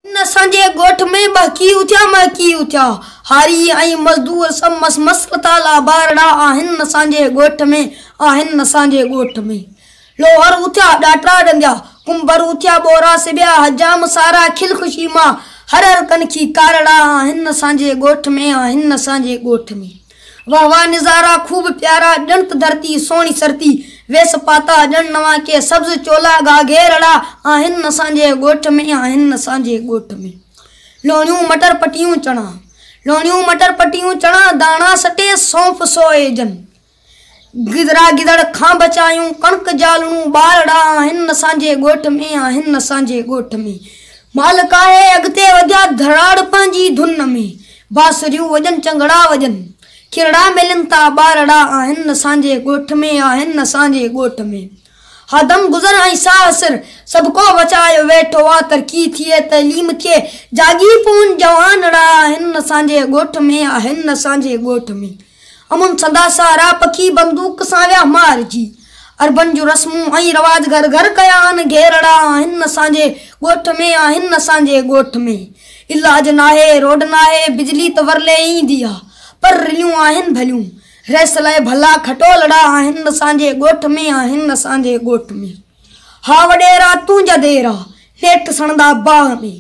ان اسان جي ڳوٺ ۾ ٻهڪي اٿيا مهڪي اٿيا. هاري ۽ مزدور سڀ مس مس لٿا لابارڙا آهن اسان جي ڳوٺ ۾ آهن اسان جي ڳوٺ ۾. لوهر اٿيا ڏاٽرا ڏنڌيا. ڪنڀر اٿيا ٻورا سبيا حجام سارا کل خوشي مان هر هر ڪنکي ڪارڙا آهن اسان جي ڳوٺ ۾ آهن اسان جي ڳوٺ ۾. واھ واھ نظارا خوب پيارا ڄڻت ڌرتي سهڻي سرتي ويس پاتا ڄڻ نوان ڪي سبز چولا گاگهيرڙا آهن اسان جي ڳوٺ ۾ آهن اسان جي ڳوٺ ۾ لوڻيون مٽر پٽيون چڻا لوڻيون مٽر پٽيون چڻا داڻا سٽي سونف سوئي جن گدرا گدڙ کان بچايون ڪڻڪ جالڻون ٻارڙا آهن اسان جي ڳوٺ ۾ آهن اسان جي ڳوٺ ۾ مالڪ آهي اڳتي وڌيا ڌراڙ پنهنجي ڌن ۾ بانسريون وڄن چنگڙا وڄن ڪرڙا ملن ٿا ٻارڙا آهن اسان جي ڳوٺ ۾ آهن اسان جي ڳوٺ ۾ ها دم گذر ۽ ساهه سر سڀ ڪو وچايو ويٺو آ ترقي ٿئي تعليم ٿئي جاڳي پون جوانڙا آهن اسان جي ڳوٺ ۾ آهن اسان جي ڳوٺ ۾. امن سندا سارا پکي بندوق سان ويا مارجي. عربن جون رسمون ۽ رواج گهر گهر ڪيا آهن گهيرڙا آهن اسان جي ڳوٺ ۾ آهن اسان جي ڳوٺ ۾ علاج ناهي روڊ ناهي بجلي ته ورلي ايندي آ پر رليون آهن ڀليون ريس لئه ڀلا کٽولڙا آهن اسان جي ڳوٺ ۾ آهن اسان جي ڳوٺ ۾. ها وڏيرا تنهنجا ديرا، نيٺ سڻندا باهه ۾.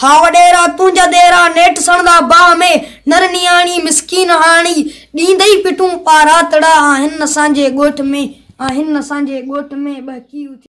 ها وڏيرا تنهنجا ديرا، نيٺ سڻندا باهه ۾. نر نياڻي مسڪين هاڻي، ڏيندئي پٽون پاراتڙا. آهن اسان جي ڳوٺ ۾، آهن اسان جي ڳوٺ ۾، ٻهڪي اٿيو.